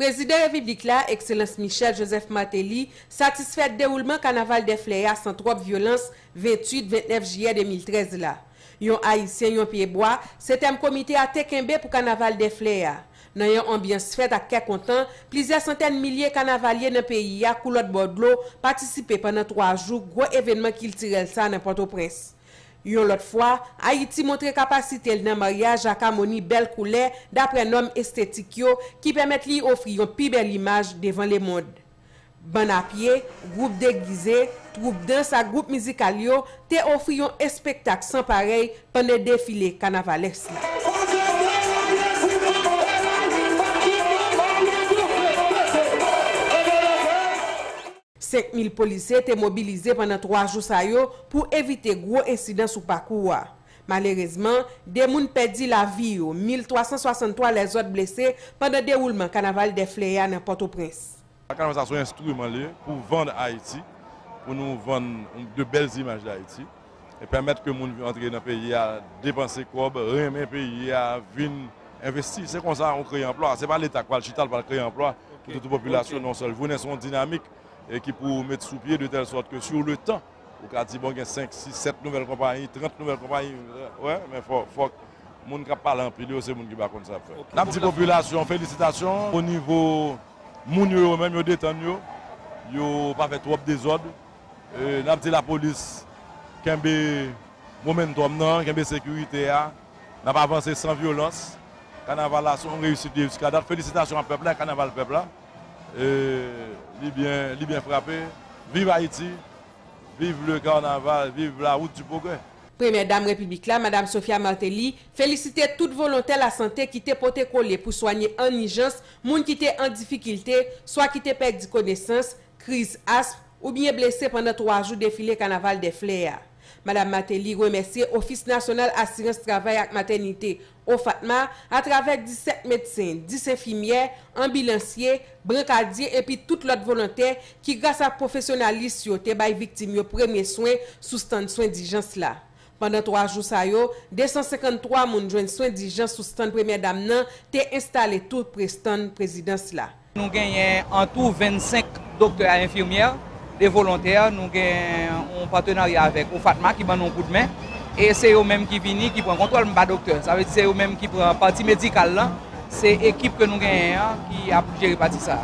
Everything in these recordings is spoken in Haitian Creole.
Prezidan Repiblik la, Ekselans Michel Joseph Martelly, satisfè dewoulman Kanaval dè Flè a san twòp vyolans 28, 29 jiyè 2013 la. Yon Ayisyen, yon pye bwa, se tèm komite a te kenbe pou kanaval dè flè a. Nan yon anbyans fèt ak kè kontan, plizyè santèn milye kanavalye nan peyi a kou lòt bò dlo patisipe pandan 3 jou gwo evènman kiltirèl sa nan Pòtoprens. Yon lòt fwa, Ayiti montre kapasite l nan maryaj ak amoni bèl koulè daprè nòm estetik yo ki pèmèt li ofri yon pi bèl imaj devan lemond. Bann a pye, gwoup degize, twoup dans ak gwoup mizikal yo te ofri yon espektak san parèy pandan defile kanavalès la. Senk mil polisye te mobilize pandan twa jou sa yo pou evite gwo ensidan sou pakou a. Malerezman, 2 moun pèdi lavi yo, 1.363 lèzòt blese pandan dewoulman Kanaval dè Flè a nan Pòtoprens. Sa kanaval sa son enstriman li pou vann Ayiti, pou nou vann de bèl imaj d'Ayiti, e pèmèt ke moun antre nan peyi a, depanse kòb, renmen peyi a, vin envesti. Se konsa ou kreye anplwa. Se pa leta ki pral chita, li pral kreye anplwa pou tout popilasyon nan yon sèl jounen. Se yon dinamik ki pou met sou pye de tèl sòt ke sou le tan, Ou ka di bon gen 5, 6, 7 nouvèl konpayi, 30 nouvèl konpayi, wè, men fòk moun k ap pale anpil yo se moun ki pa konn sa y ap fè. N ap di popilasyon an felisitasyon onivo moun yo yo menm yo detann yo, yo pa fè twòp dezòd. N ap di lapolis kenbe momentòm nan, kenbe sekirite a, n ap avanse san vyolans. Kanaval la se yon reyisit jiskadat. Felisitasyon a pèp la e kanaval pèp la. Eee li byen frape viv Ayiti viv le carnaval viv la route du progrès. Premyè Dam Repiblik la, Madam Sophia Martelly, felisite tout volontè lasante ki te pote kole pou swanye ann ijans moun ki te an difikilte, swa ki te pèdi konesans, kriz asm, oubyen blese pandan 3 jou defile Kanaval dè Flè a. Madam Mateli remèsye Ofis Nasyonal Asirans Travay ak Matènite, OFATMA, atravè 17 medsen, 10 enfimyè, anbilansye, brankadye epi tout lòt volontè ki gras ak pwofesyonalis yo te bay viktim yo premye swen sou stand swen dijans la. Pandan 3 jou sa yo, 253 moun jwenn swen dijans sou stand Premyè Dam nan te enstale tou pre stand Prezidans la. Nou genyen an tou 25 doktè a enfimyè de volontè, nou gen yon patenarya avèk OFATMA ki ban nou yon kout men, e se yo menm ki vini ki pran kontwòl, m pa doktè, sa vle di se yo menm ki pran pati medikal lan, se ekip ke nou genyen an ki ap jere pati sa.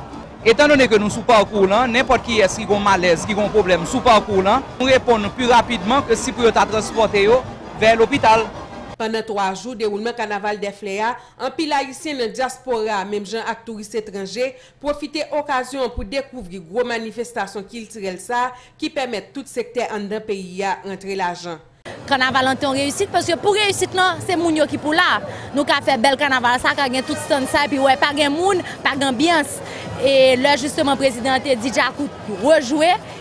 Etan done ke nou sou pakou lan, nenpòt kiyès ki gen yon malèz, ki gen yon pwoblèm sou pakou lan, nou reponn pi rapidman ke si pou yo ta transpòte yo vè lopital. Pandan 3 jou dewoulman kanaval dè flè a Anpil Ayisyen nan dyaspora a, menm jan ak touris etranje, pwofite okazyon an pou dekouvri gwo manifestasyon kiltirèl sa a ki pèmèt tout sektè anndan peyi a rantre lajan. Kanaval lan te yon reyisit paske pou reyisit lan se moun yo ki pou la. Nou ka fè bèl kanaval sa a, ka gen tout stand sa epi wè pa gen moun, pa gen anbyans. E lè jisteman prezidan an te di djakout rejwe.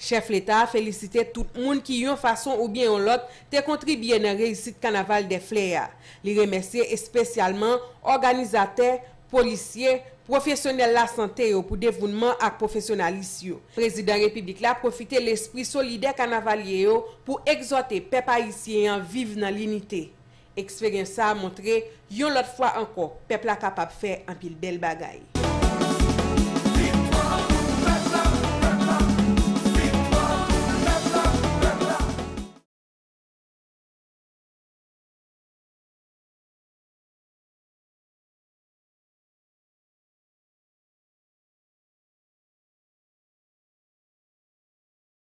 Chèf Leta a felisite tout moun ki yon fason oubyen yon lòt te kontribye nan reyisit kanaval dè flè a. Li remèsye espesyalman òganizatè, polisye, pwofesyonèl lasante yo pou devounman ak pwofesyonalis yo. Prezidan Repiblik la pwofite lespri solidè kanavalye yo pou egzòte pèp ayisyen an viv nan linite. Eksperyans sa a montre, yon lòt fwa ankò, pèp la kapab fè anpil bèl bagay.